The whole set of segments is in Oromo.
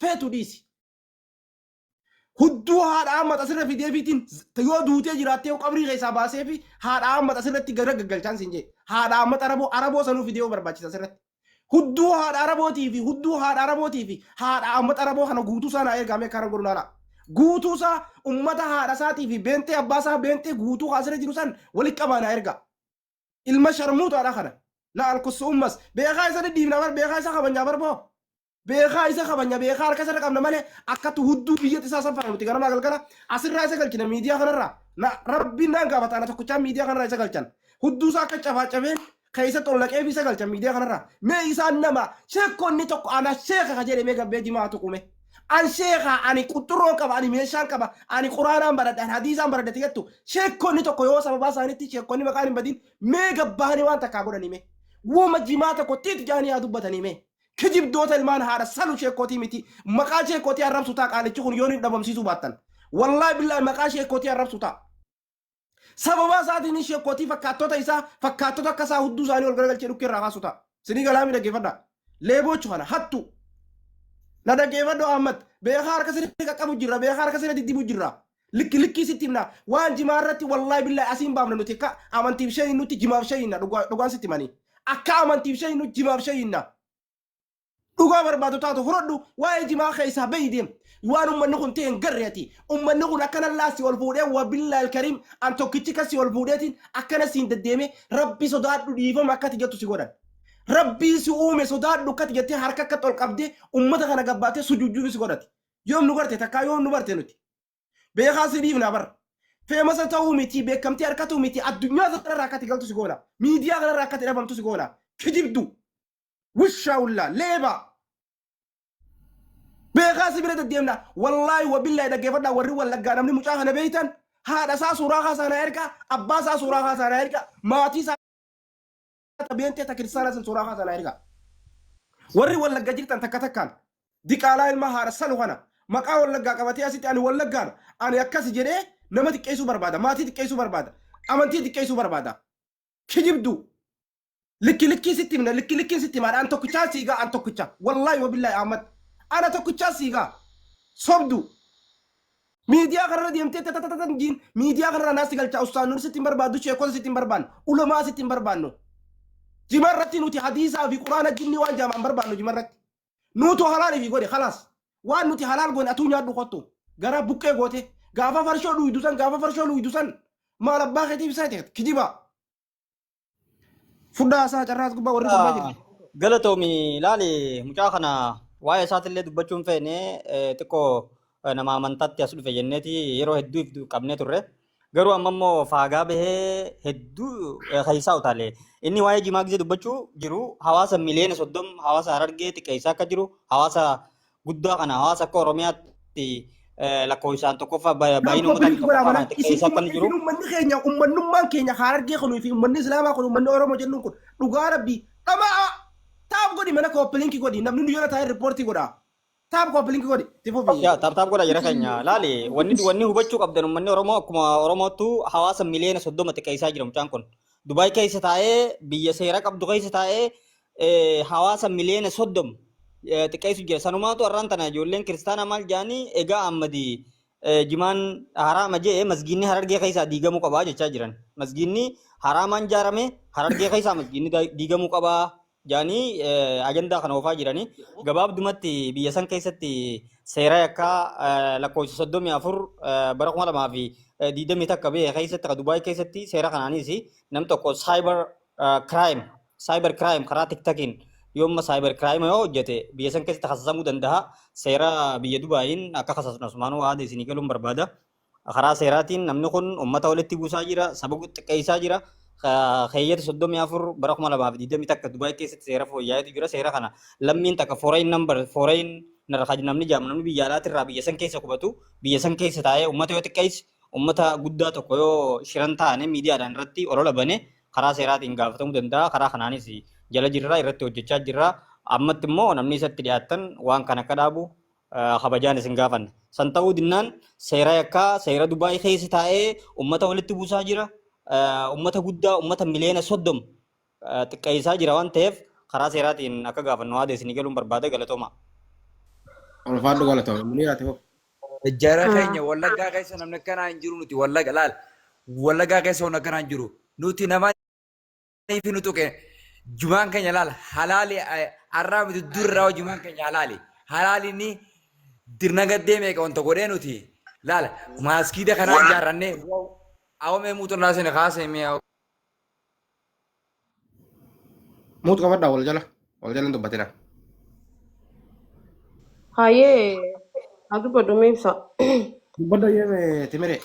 feetu dhiisi. Hudduu haadha hammata sirra fideefiitiin yoo duutee jiraattee yoo qabrii keessaa baasee fi haadha hammata sirratti gara gaggalchaan siin jee. Haadha hammata araboo araboo sanuu fidee yoo barbaachisa sirratti. Hudduu haadha arabootii fi hudduu haadha arabootii fi haadha hammata araboo kana guutuu isaa naa ergaamee karan godhu laalaa. Guutuu isaa ummata haadha isaatii fi beentee abbaa isaa beentee guutuu haa sirra jiru san walitti qabaa naa ergaa. Ilma sharmuutaadha kana. Na alkussa ummas. Beekaa isa dhidhiibna bar beekaa isa kabajnaa bar boo. beekaa isa kabanya beekaa harka isarra qabna malee akkatti hudduu biyyatti isaa saffara nuti ganamaa galgala asirraa isa galchina miidiyaa kanarraa na rabbiin naan gaafata ana tokkichaa miidiyaa kanarraa isa galchan hudduu isaa akka cabaa cabeen keessatti ol naqeef isa galchan miidiyaa kanarraa mee isaan nama sheekonni tokko ana sheeka ka jedhe mee gabbee jimaa tuqume an sheeka ani quxxurroon qaba ani meeshaan qaba ani quraanaan baradhe ani hadiisaan baradhe jettu sheekonni tokko yoo sababaa isaaniitti sheekonni maqaan hin badin mee gabbaanii waan takkaa godhanii mee wuma jimaa tokko tiit jaanii haa dubbatanii mee kijibdoota ilmaan haadha salu sheekkootii miti maqaa sheekkootii arrabsu taa qaalichi kun yoon hin dhabamsiisuu baattan wallaahi billaahi maqaa sheekkootii arrabsu taa sababaa isaatiin sheekkootii fakkaattota isaa fakkaattota akka isaa hudduu isaanii ol garagalchee dhukkee irraa kaasu taa sinii galaamii dhaggeeffadha leeboochu kana hattu na dhaggeeffadhu ahmad beekaa harka sirrii qaqqabu jirra beekaa harka sirrii diddibu jirra Likki likkii sitti himna. Waan jimaa irratti wallaahi billaahi asiin baafna nuti akka amantiif shayii nutti jimaaf shayiinna dhugaa- dhugaan sitti himanii. Akka amantiif shayii nutti jimaaf shayiinna. Dhugaa barbaadu taatu fudhadhu waa'ee jimaa keessaa bahi deem. Waan ummanni kun ta'e hin garre ati. Ummanni kun akkana illaa si ol fuudhee waa billaahi alkariim an tokkichi kan si ol fuudheetiin akkana si hin deddeeme rabbi sodaadhu dhiifama akkati jettu si godhan. Rabbii si uume sodaadhu akkati jettee harka akka ol qabdee ummata kana gabbaattee sujuujjuufi si godhati. Yoom nu garte takkaa yoom nu barte nuti. Beekaa si dhiifnaa bar. Feemasa ta'uu miti beekamtii harkatuu miti addunyaa kanarraa akka ati galtu si goona. Miidiyaa kanarraa akka ati dhabamtu si goona. Kijibdu. Wushaa ullaa leebaa. Beekaa si bira deddeemna. Wallaahi wabillaahi dhaggeeffadhaa warri wallaggaa namni mucaa kana beektan haadha isaa suuraa kaasaa na ergaa abbaa isaa suuraa kaasaa na ergaa maatii isaa ta beentee ta kiristaanaa san suuraa kaasaa naa ergaa. Warri wallagga jirtan takka takkaan diqaalaa ilma haadha salu kana maqaa wallaggaa qabatee asitti ani wallaggaadha ani akkasi jedhee nama xiqqeessuu barbaada maatii xiqqeessuu barbaada amantii xiqqeessuu barbaada kijibduu likki likkii sitti himna likki likkiin sitti himaadha an tokkichaa siigaa an tokkicha wallaahi wabillaahi ahmad ana tokkichaa siigaa sobduu Miidiyaa kanarra deemtee tatatatan diin miidiyaa kanarra naas si galchaa ustaan nuti sitti hin barbaaddu sheekota sitti hin barbaannu ulamaa sitti hin barbaannu. Jima irratti nuti hadiisaa fi quraana jinnii waan jaamaan barbaannu jima irratti. Nuutu halaal fi godhe kalaas waan nuti halaal goone atuu nyaadhu kottu garaa buqqee goote gaafa farshoo dhuydu san gaafa farshoo dhuydu san maal abbaa keetiif isaa ta'e kijibaa. Fudhaa haasaa carraas gubbaa warri gubbaa jirtu. Galatoomi laali mucaa kana waa'ee isaatillee dubbachuun feene eh, xiqqoo eh, nama amantaatti as dhufe jenneeti yeroo hedduu if qabnee turre. Garuu amma immoo faagaa bahee hedduu eh, keessaa utaale. Inni waa'ee jimaa gisee dubbachuu jiru hawaasa miliyoona soddom hawaasa harargee xiqqeessaa akka jiru hawaasa guddaa kana hawaasa akka Oromiyaatti lakkoofsaan tokkoffaa baay'ina uummataa tokkoffaa kana xiqqeessaa kan jiru. Uummanni keenya uummannummaan keenya Harargee kunii fi uummanni Islaamaa kun uummanni Oromoo jennuun kun dhugaa rabbii dhama'aa taap godhi mana kooppilinkii godhi namni nu jala taa'ee riippoortii godha. Taap kooppilinkii godhi itti fufi. Yaa taap taap godha jira keenya laali wanni wanni hubachuu qabdan uummanni Oromoo akkuma Oromoottu hawaasa miliyoona soddoma xiqqeessaa jira mucaan kun. Dubaay keessa taa'ee biyya seera qabdu keessa taa'ee hawaasa miliyoona soddom xiqqeessu jira. Sanumaatu har'aan tana ijoolleen kiristaanaa maal jedhanii egaa ammadi jimaan haraama jee masgiinni harargee keessaa diigamuu qabaa jechaa jiran. Masgiinni haraamaan ijaarame harargee keessaa masgiinni diigamuu qabaa jedhanii ajandaa kana oofaa jiranii. Gabaabdumatti biyya san keessatti seera yakkaa lakkoofsa soddomii afur bara kuma lamaa fi diidamii takka biyya keessatti ka Dubaay keessatti seera kanaanis nam tokko saayibar crime cyber crime karaa tiktakiin yoomma cyber crime yoo hojjete biyya san keessatti kasasamuu danda'a seera biyya dubaayiin akka kasasnu asumaanuu aada isinii galuun barbaada karaa seeraatiin namni kun ummata walitti buusaa jira saba xiqqeessaa jira keeyyata soddomii afur bara kuma lamaa fi digdamii takka dubaayii keessatti seera fooyya'eetu jira seera kana lammiin takka foreign number foreign namni jaamu namni biyya alaatirraa biyya san keessa qubatu biyya san keessa taa'ee ummata yoo xiqqeesse Uummata guddaa tokko yoo shiran taane miidiyaadhaan irratti olola bane karaa seeraatiin gaafatamuu danda'a. Karaa kanaanis jala jirra, irratti hojjechaa jirra. Ammatti immoo namni isatti dhiyaattan waan kana akka dhaabu kabajaan isin gaafanna. San ta'uu dinnaan seera yakkaa seera Dubaay keessa taa'ee uummata walitti buusaa jira. Uummata guddaa uummata miliyoona soddom xiqqeessaa jira waan ta'eef karaa seeraatiin akka gaafannu haada isinii galuun barbaada galatoomaa. Ulfaadhu galatoomi. Muniira ati fufi. Jara keenya wallaggaa keessa namni akkanaa hin jiru nuti wallagga laal wallaggaa keessa wanni akkanaa hin jiru nuti nama fi nu tuqe jumaan keenya laal halaali har'aa miti durraa jumaan keenya halaali halaali ni dirna gaddee meeqa wanta godhee nuti laal maaskiida kanaa ijaarrannee awwamee muuxannaa sani kaasee mi'a Muut qabadhaa wal jala. Wal jala hin dubbatina. Hayyee haa dubbadhu mee ibsa. Dubbadha jeeme timiree.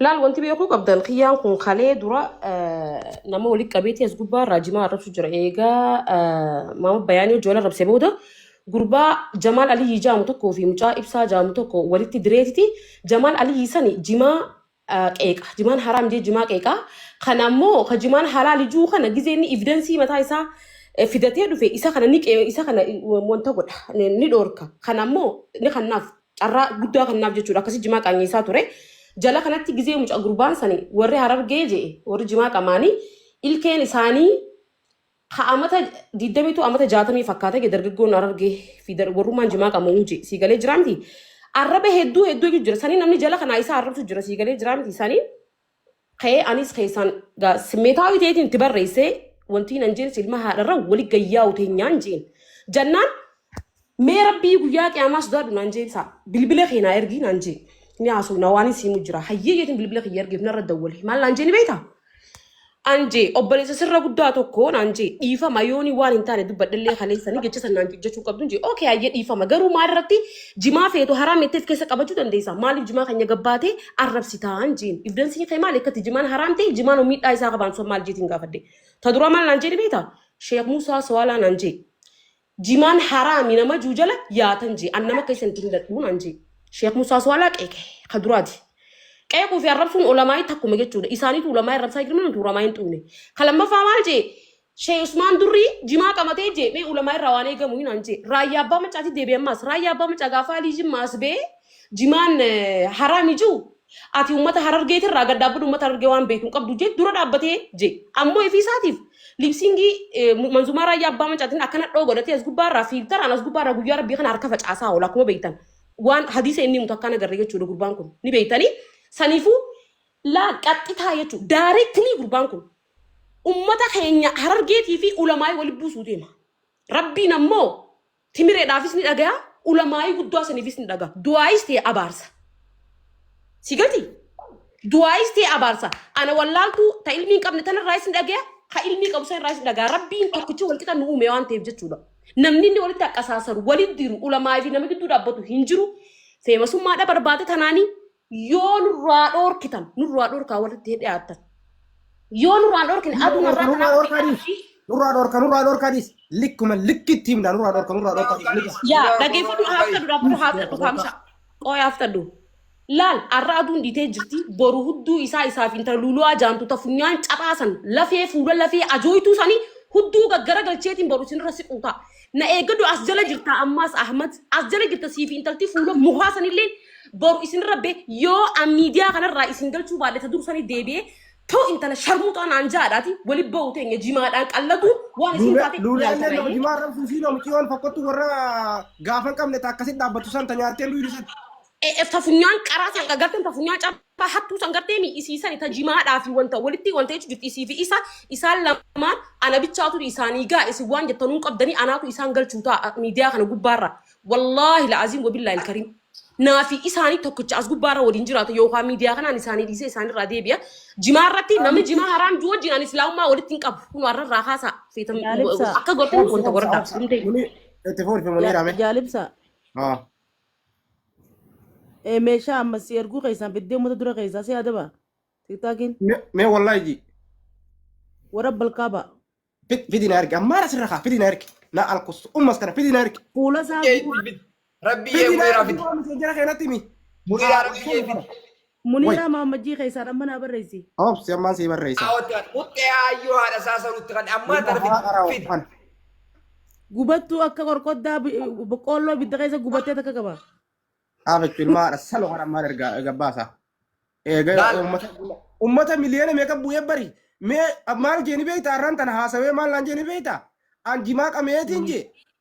Laal wanti beekuu qabdan kiyyaan kun kalee dura eh, nama walitti qabeetii as gubbaa irraa jimaa arrabsu jira. Eegaa eh, maama bayaanii hojii wal arrabse booda gurbaa Jamaal Aliyyii jaamu tokkoo fi mucaa ibsaa jaamu tokko walitti direetiti Jamaal Aliyyii sani jimaa ah, qeeqa. Jimaan haraam jee jimaa qeeqa. Kana ammoo ka jimaan halaali juu kana gizee inni evidensii mataa isaa eh, fidatee dhufe isa kana ni qee- isa kana eh, wanta godha ni ni dhoorka. Kana ammoo ni kannaaf carraa guddaa kannaaf jechuudha. Akkasii jimaa qaanyeessaa ture. Jala kanatti gizee muca gurbaan sani warri harargee jee warri jimaa qamaanii ilkeen isaanii Ha amata 22 amata 60 fakkaata ge dargaggoon arargee fi dar- warrummaan jimaa qabu huji sii galee jira miti. Arraba hedduu hedduu iyyuu jira. Sanii namni jala kanaa isaa arrabsu jira sii galee jira miti. Sanii ka'ee anis keessaan gaa simmeetaawii ta'eetiin itti barreessee wantiin an jeen silma haadharra wali gayyaa'u teenyaan jeen. Jannaan Mee rabbii guyyaa qiyaamaa sodaadhu naan jee ibsaa. Bilbila kee naa ergii naan jee. Ni haasuu na waan isiimu jira. Hayyee jeetiin bilbila kiyya ergeef narra dawwale. Maal naan jee ni beektaa? An jee obboleessa sirra guddaa tokko naan jee dhiifama yooni waan hin taane dubbadhallee kaleessanii jecha san naan jechuu qabdu jee okay hayyee dhiifama garuu maal irratti jimaa feetu haraa meetteef keessa qabachuu dandeessa maaliif jimaa keenya gabbaatee arrabsitaan jeen ibdansiin kee maal akkatti jimaan haraam ta'e jimaan miidhaa isaa qabaan sun maal jeetiin gaafadde ta dura maal naan jee ni beektaa sheek Muusaa Sawaalaa naan jee Jimaan haraami nama juu jala yaatan jee an nama keessan itti hin dadhuu naan jee Sheekh Musaa Suwaalaa qeeqe ka duraati. Qeequu fi arrabsuun ulamaa'ii takkuma jechuudha. Isaaniitu ulamaa arrabsaa jirma nuti ulamaa hin xuune. Ka lammaffaa maal jee Sheekh Usmaan Durrii jimaa qabatee jee mee ulamaa irraa waan eegamu hin aan jee raayyaa abbaa macaati deebi'e ammaas raayyaa abbaa macaa gaafaa alii jimma as bee jimaan eh, haraami juu Ati ummata harargeeti irraa gad dhaabbadhu ummata harargee waan beeku hin qabdu jee dura dhaabbatee jee. Ammoo ifii isaatiif liipsiingii eh, mu- manzumaa raayyaa abbaa mancaatiin akkana dhoo godhatee as gubbaa irraa fiiltaraan as gubbaa irraa guyyaa rabbii kana harka facaasaa oola akkuma beektan. Waan hadiisa inni himutu akkaan agarre jechuudha gurbaan kun ni beektanii. Saniifuu laal qaxxitaa jechuudha. Daareektinii gurbaan kun ummata keenya harargeetii fi ulamaa'ii walitti buusuu deema. Rabbiin ammoo Timireedhaafis ni dhagaya, ulamaa'ii guddaa saniifis ni dhaga. Du'aayis ta'e abaarsa. Si gati? Du'aayis ta'e abaarsa. Ana wallaaltuu ta ilmii hin qabne tanarraayis ni dhagaya, ka ilmii qabu sanirraayis ni dhagaya. Rabbiin tokkichi walqixa nu uume waan ta'eef jechuudha. Namni inni walitti haqqasaasaru, walitti diru, ulamaa'ii fi nama gidduu dhaabbatu hin jiru. Feemasummaadha barbaada tanaanii Yoo nurraa dhoorkitan, nurraa dhoorkaa walitti hin dhiyaattan. Yoo nurraa dhoorkine Nurraa aduun dhorka, irraa nurraa kanaa dhorka dhiqaa dhiis. fi Nurraa dhorka, nurraa dhorka dhiis. Likkuma likkitti himna, nurraa dhorka, nurraa dhorka dhiis. Likkuma. yaa dhageeffadhu haaftadhu dhaabbadhu haaftadhu kaamsa qooy haaftadhu laal arra aduun dhiitee jirti boru hudduu isaa isaaf intala luulu'aa jaantu ta funyaan caphaasan lafee fuula lafee ajooytuu sanii hudduu gaggara galcheetiin boru isinirra siquu ta'a Na eeggadhu as jala jirta ammaas Ahmad as jala jirta siifi intalti fuula mukaa sanillee boru isinirra be yoo an miidiyaa kanarraa isin galchuu baadhe ta dursanii deebi'ee too intala sharmuuxaa naan jaadhaati wali ba'u teenya jimaadhaan qallatuun waan isin taate Luulee ilaalta illee baay'ee. hojimaa rabsu ishii loo miciyoon fakkottu warra gaafa hin qabne ta akkasitti dhaabbattu san ta nyaartee duudu san. E- e, Tafunyaan qaraa san garteen tafunyaan cabaa hattuu san gartee mi isiisani tajimaadhaa fi wanta walitti wanta jechu jirti isii fi isa isaan lamaan ana bichaatu isaanii gaa isin waan jettanuun qabdanii anaatu isaan galchuu ta'a miidiyaa kana gubbaarra wallaahi la'aziim wabillaahi ilkariim naa fi isaanii tokkicha as gubbaarra waliin jiraata yookaan miidiyaa kanaan isaanii dhiisee isaanirraa deebi'a jimaa irratti namni jimaa haraam juu wajjin ani islaamummaa walitti hin qabu kun har'arraa haasaa feetan Jaalibsaa. akka gortanii wanta goradhaa Itti fufi muniira mee. Jaalibsaa. Haa. Ee meeshaa amma si erguu keessaan fiddee uummata dura keessaa si adaba. Tiktaakiin Me- Mee wallahi ji. warra balkaa ba'a. Fid- Fidi na ergi. Ammaan asirra kaa fidi na ergi. Na alkus. Ummas kana fidi na ergi. Fuula isaa Rabbii Fidi na muniraa ergi. fidi. Waan miseenjera keenatti himi. Muniraa Haa, rabbii kee fidi. Muniiraa Way. Mahammajjii keessaan amma naa barreessi. Obsi ammaan sii barreessa. Aawwataan muxxee aayyoo haadha isaa saruutti kan ammaa Ilma tana haa araa fid. ofan. Gubattuu akka qorqoddaa bi- boqqoolloo ibidda keessa gubattee takka qaba. Dhaabachu ilma haadha salo kan ammaan ergaa gabbaasa. Eega Laal. uummata uummata miliyoona meeqa bu'ee bari. Mee maal jeeni beekta har'aan tana haasawee maal naan jeeni beekta? An jimaa qameetiin jee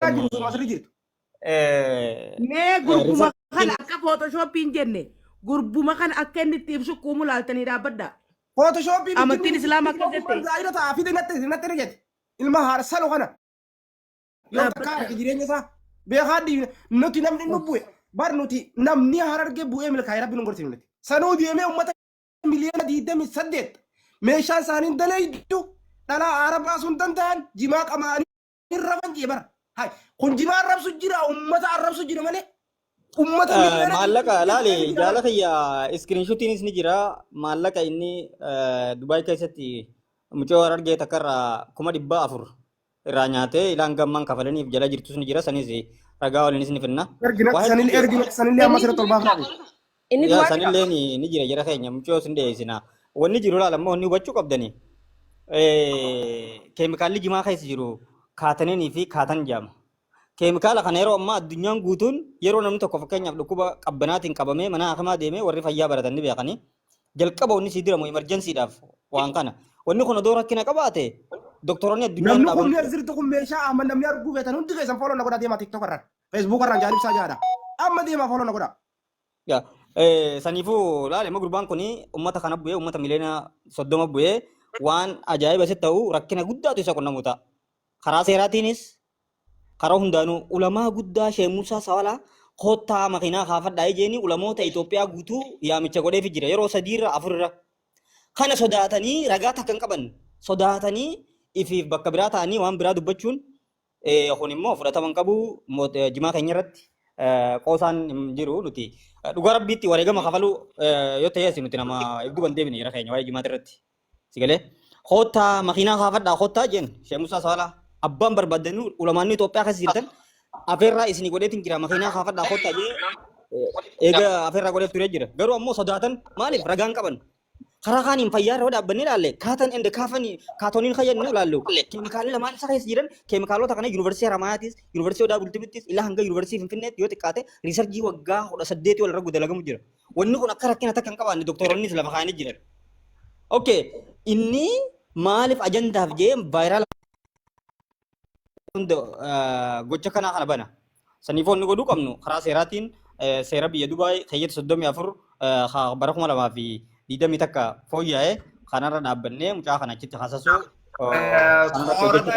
Ati nuti masri jirtu. Eh, Mee gurbuma Rifaatti- kana akka photoshoppiin jenne gurbuma kana akka inni itti ibsu kuumu laaltanii dhaabbadha. Photoshoppiin Amantiin Islaamaa akka jette. Zaahira ta'a fide natti natti ni jette. Ilma haadha salo kana. Yoo Dhaabbata. takkaa arge jireenya isaa beekaa diina nuti namni nu bu'e bar nuti namni hararge bu'ee milkaa'e rabbi nu gorsiifne. Sanuu deemee uummata miliyoona digdamii saddeet meeshaa isaanii hin daleeydu dhalaa aara baasuu hin danda'an jimaa qamaanii hin raman jee bara. Hay, Kun jimaa arrabsu jira, uummata arrabsu jira malee. Uummata Eh, miliyoona maallaqa dhibba laale saddeetii jira jaala bara. kiyya iskiriinshutiinis ni jira maallaqa inni eh, Dubaay keessatti mucoo argee takka irraa kuma dhibba afur irraa nyaatee ilaan gammaan kafalaniif jala jirtus ni jira sanis ragaa waliinis ni finna Ergina, waa hedduu sanillee jira ergina, sanillee amma sirriitti ol baafnaa beeku. Inni Yaa du'aa san jira. illeen ni jira jara keenya mucoo sin dhiyeessina. Wanni jiru laala immoo wanni hubachuu qabdani. Keemikaalli jimaa keessa jiru kaataneenii fi kaatan jaama. Keemikaala kana yeroo ammaa addunyaan guutuun yeroo namni tokko fakkeenyaaf dhukkuba qabbanaatiin qabamee mana hakimaa deemee warri fayyaa baratan ni beekanii. Jalqaba wanni sii diramu imarjansiidhaaf waan kana. Wanni kun odoo rakkina qabaate doktoroonni addunyaa hin Namni kun dhaabamtu. sirtu kun meeshaa amma namni arguu feetan hundi keessan fooloo na godha deemaa tiktok irraan. Facebook irraan jaalibsaa jaadha. Amma deemaa fooloo na godha. Yaa, eh, Saniifuu laale immoo gurbaan kun uummata kana bu'ee uummata miliyoona soddoma bu'ee waan ajaa'iba isa ta'u rakkina guddaatu isa qunnamu ta'a. Karaa seeraatiinis karaa hundaanuu ulamaa guddaa Sheek Muusaa Sawalaa kottaa makiinaa kaafadhaa ijeeni ulamoota Itoophiyaa guutuu yaamicha godheefi jira yeroo sadiirra afurra. Kana sodaatanii ragaa takka hin qaban sodaatanii ifiif bakka biraa ta'anii waan biraa dubbachuun Eh, kun immoo fudhatama hin qabu moot- eh, jimaa keenya irratti eh, qoosaan hin jiru nuti eh, dhugaa rabbiitti wareegama kafaluu eh, yoo ta'e asi nuti nama ibduu hin deebine jira keenya waa'ee jimaata irratti si galee koottaa makiinaa kaafadhaa koottaa jeen sheemusaa saalaa abbaan barbaaddanuu ulamaanni Itoophiyaa keessa jirtan afeerraa isinii godheetiin jira makiinaa kaafadhaa koottaa jee eh, eega afeerraa godheef turee jira garuu ammoo sodaatan maaliif ragaan qaban Karaa kaaniin fayyaa irra dhaabbanne ilaalle kaatan ende kaafanii kaatoniin kan jennu ilaallu keemikaalli lamaan isa keessa jiran keemikaalota kana yuunivarsiitii Haramaayaatiis yuunivarsiitii Odaa Bultumittis ilaa hanga yuunivarsiitii Finfinneetti yoo xiqqaate riisarjii waggaa kudha saddeetii wal irra dalagamu jira. Wanni kun akka rakkina takka hin qabaanne doktoroonnis lafa kaa'anii jiran. Okay inni maaliif ajandaaf jee vaayiraala hunda eh, gocha kanaa kana bana. Saniif wanni godhuu qabnu karaa seeraatiin eh, seera biyya Dubaay keeyyata 34 eh, ha bara 2020 takka fooyya'e kanarra dhaabbannee mucaa kana achitti hasasuu eh, kanarratti hojjechuu Torban